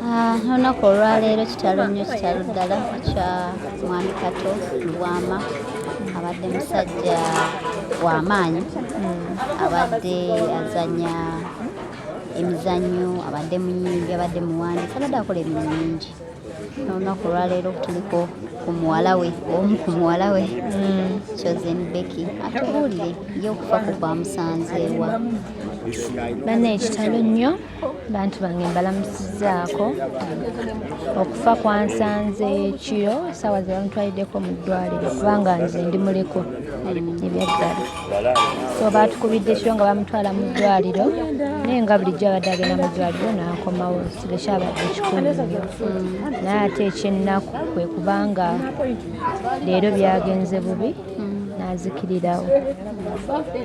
Ah, olunaku olwaleero kitalo nnyo kitalo ddala kya mwami kato lubwama abadde musajja wamaanyi hmm. abadde azanya emizannyo abadde muyimbi abadde muwandiisi abadde akola emirimu mingi olunaku olwaleero tuliko ku muwala we omu ku muwala we hmm. chosen becky atubuulire ye okufa ku kwamusanzeewa banna ekitalo nnyo bantu bange mbalamusizaako okufa kwansanze kiro saawa ze bamutwaliddeko mu ddwaliro kubanga nze ndi muliko ebyaddala so baatukubidde kiro nga bamutwala mu ddwaliro naye nga bulijjo abadde agenda mu ddwaliro n'akomawo kibe kyabadde kikulu naye ate ekyennaku kwe kubanga leero byagenze bubi nazikirirawo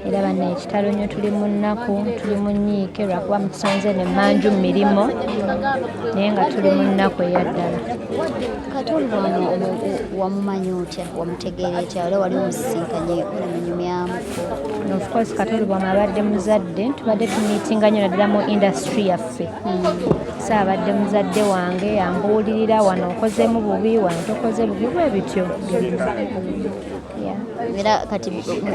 era bana ekitalo nyo tuli mu nnaku tuli mu nyiike lwakuba mutusonze ne manju mu mirimu naye nga tuli mu nnaku eyaddala katonda wano wamumanya otya wamutegeera etya era wali omusisinkanye munyumyamuko ofcourse katonda bwamabadde muzadde tubadde tumiitinga nyo naddala mu indasitry yaffe saabadde muzadde wange yambuulirira wano okozemu bubi wano tokoze bubi bwe bityo era kati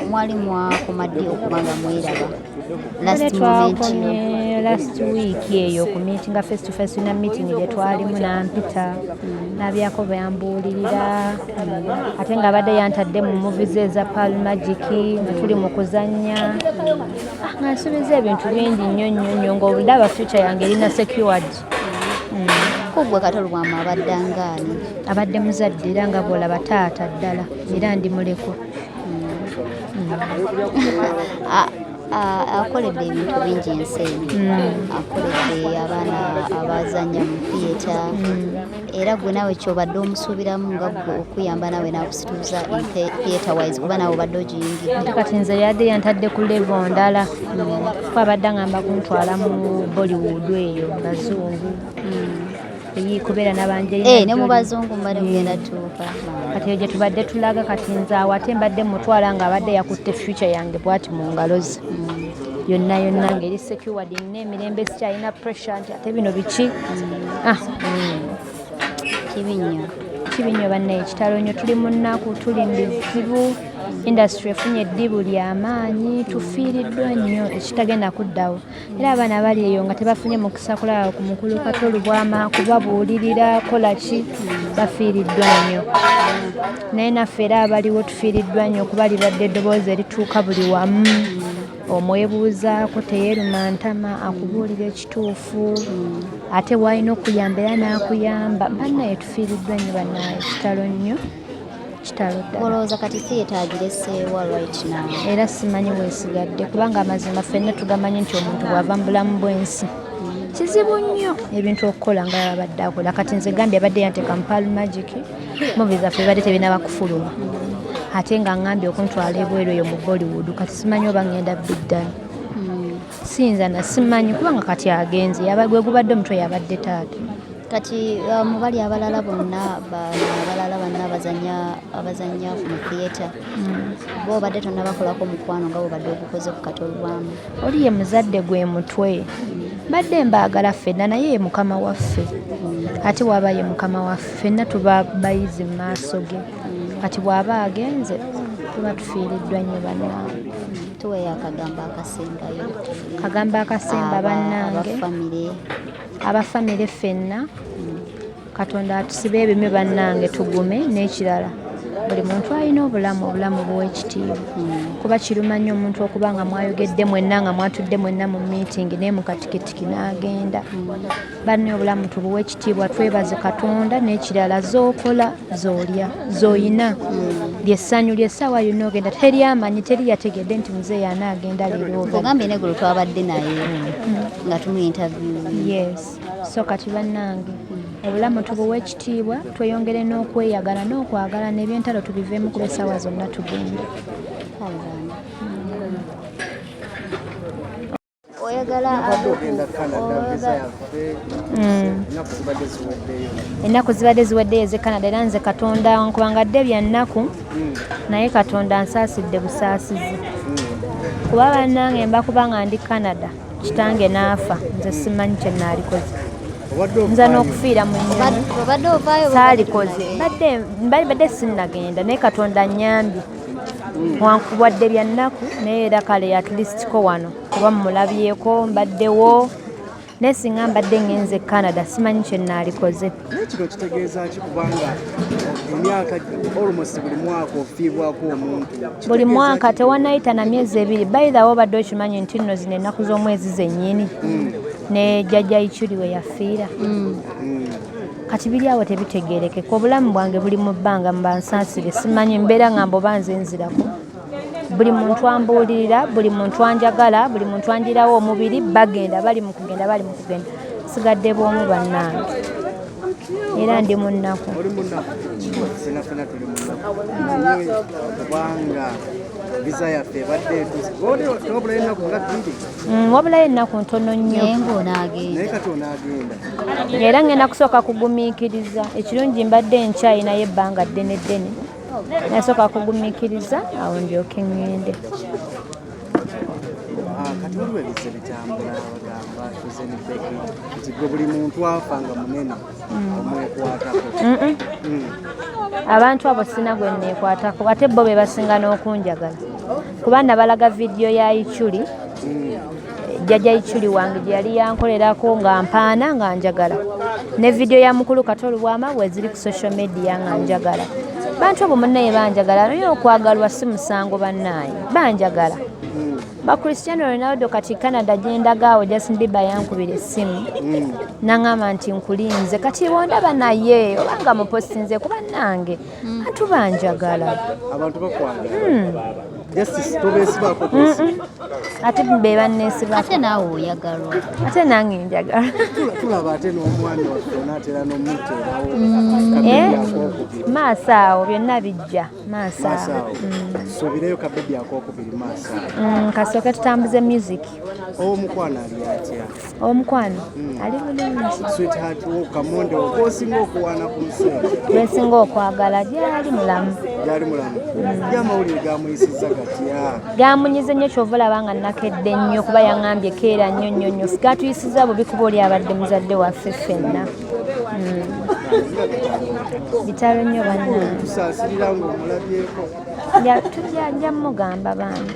mwali mwakoma ddi okubanga mweraba twakomye last week eyo ku meetinga face to face na meeting gye twalimu nampita mm. nabyako byambuulirira mm. ate nga abadde yantadde mu muvi ze eza pal magic nga tuli mu kuzannya mm. Ah, nga nsuubiza ebintu bingi nnyo nnyo nnyo ng'obulaba future yange erina secured hmm. kuggwe kati olwamu abadde angaani abadde muzadde era nga bwolaba taata ddala era ndi muleko hmm. ah, akoledde ebintu bingi ensi eno mm. akoledde abaana abazanya mu theatre mm. era gwe nawe kyobadde omusuubiramu nga gwe okuyamba nawe nakusituuza theaterwise kuba nawe obadde ogiyingidde kati nze yadde yantadde ku levo ndala kuba abadde angamba kuntwala mu bollywood eyo bazungu hmm. kubeera nabanje eh, ne mu bazungu mbadde mugenda hmm. tuuka kati eyo gyetubadde tulaga kati nze awo ate mbadde mutwala nga abadde yakutte future yange bwati mu ngalo ze hmm. yonna yonna ngeri secured n'emirembe sikyalina pressure nti ate bino biki mm. ah. mm. kibi nnyo kibi nnyo banna ekitalo nnyo tuli mu nnaku tuli mu bizibu indasitule efunye eddibu ly'amaanyi tufiiriddwa nnyo ekitagenda kuddawo era abaana bali eyo nga tebafunye mukisa kulaba ku mukulu kato olubwama kubabuulirira kola ki bafiiriddwa nnyo naye naffe era abaliwo tufiiriddwa nnyo kuba libadde eddoboozi erituuka buli wamu Omwebuuzaako teyeeruma ntama akubuulira ekituufu ate w'alina okuyamba era n'akuyamba. Bannaye tufiiriddwa nnyo bannaye, kitalo nnyo kitalo ddala. Olowooza kati theatre agireseewa right now? Era simanyi weesigadde kubanga amazima ffenna tugamanyi nti omuntu bw'ava mu bulamu bw'ensi kizibu nnyo ebintu okukola nga yabadde akola kati nze gambye abadde yanteeka mu pal magic muvi zaffe bibadde tebinaba kufuluma ate nga ngambye okuntwala ebweru eyo mu bollywood kati simanyi oba ngenda biddani hmm. siyinza na simanyi kubanga kati agenze gwe gubadde omutwe yabadde taata kati uh, mubali abalala bonna abalala banna abazanya mu theatre hmm. bo obadde tonabakolako mukwano nga bwobadde ogukoze ku katolwamu oli ye muzadde gwe mutwe mbadde mbaagala ffenna naye ye mukama waffe ate waaba ye mukama waffe ffenna tuba bayizi mu maaso ge kati bw'aba agenze tuba tufiiriddwa nnyo bannange tuweyo akagambo akasembayo kagambo akasemba bannange abafamire ffenna Katonda atusibe ebime bannange tugume n'ekirala buli muntu alina obulamu obulamu buwa ekitiibwa kuba kiruma nnyo omuntu okuba nga mwayogedde mwenna nga mwatudde mwenna mu miitingi naye mukatikitiki n'agenda banne obulamu tubuwa ekitiibwa twebaze katonda n'ekirala zookola zoolya zooyina lyessanyu lyessaawa yonna ogenda teri amanyi teri yategedde nti muzeeyi anaagenda leero ogambye negolo twabadde naye nga tumuyintavyuye so kati bannange obulamu tubuwa ekitiibwa tweyongere n'okweyagala n'okwagala n'ebyentalo tubiveemu kuba essaawa zonna tugenda ennaku zibadde ziweddeyo eze canada era nze katonda nkubanga dde bya nnaku hmm. naye katonda nsaasidde busaasizi hmm. kuba bannange mbakuba nga ndi canada kitange n'afa nze simanyi kye naalikoze nza n'okufiira mu saalikoze badde sinnagenda naye katonda nyambye hmm. wankubwadde bya nnaku naye era kale atulisitiko wano kuba mumulabyeko mbaddewo naye singa mbadde ngenze canada simanyi kye naalikoze naye kino kitegeeza ki kubanga emyaka almost buli mwaka ofiibwako omuntu buli mwaka tewanayita na myezi ebiri bayithawo obadde okimanyi nti nno zino ennaku z'omwezi zennyini hmm. ne jjajja ikyuli we yafiira hmm. Hmm. kati biri awo tebitegeerekeka obulamu bwange buli mu bbanga mbansaasire simanyi mbeera nga mboba nze nzirako buli muntu ambuulirira buli muntu anjagala buli muntu anjirawo omubiri bagenda bali mu kugenda bali mu kugenda sigadde bwomu bannange era ndi mu nnaku mm, wabulayo ennaku ntono nnyo era ngenda kusooka kugumiikiriza ekirungi mbadde enkyayinayo ebbanga ddene ddene nasooka kugumikiriza awo ndyoke ŋŋende ah, kati waliwo ebizze bitambula bagamba tuzenibeki nti gwe buli muntu afa nga munene mm. omwekwatako mm. abantu abo sina gwe neekwatako ate bo be basinga n'okunjagala kuba nabalaga vidiyo ya ichuli mm. jjaja ichuli wange gye yali yankolerako nga mpaana nga njagala ne vidiyo ya mukulu kata olubwama weziri ku social media nga njagala bantu obo munaye banjagala naye okwagalwa si musango banaye banjagala bakristiano ronaldo kati canada gyendagaawo justin biba yankubira essimu mm. nangamba nti nkulinze kati bondaba naye obanga mupostinze kuba nange Bantu banjagala. Abantu bakwagala. Hmm. Justice tobesibaako kwesi. Ate be banneesibaako. Ate naawe oyagalwa. Ate nange njagala. Tulaba ate n'omwana waffe onaatera n'omuteerawo. Hmm. Eh? Maaso awo byonna bijja. Maaso awo. Hmm. Suubireyo kabebi ak'okubiri maaso awo. Kasooke tutambuze music. Omukwano ali atya? Omukwano ali bulungi. Sweetheart wo kamonde okosinga okuwana ku nsi. Gwesinga okwagala gyali mulamu. Gyali mulamu. Gya mm. mawulire gamuyisizza gatya? Gamunyize nnyo kyova olaba nga nakedde nnyo kuba yang'ambye keera nnyo nnyo nnyo. Sigatuyisizza bubi kuba oli abadde muzadde waffe ffenna. Mm. Bitalo nnyo bannange. Tusaasirira ng'omulabyeko. Tujja mugamba bambi.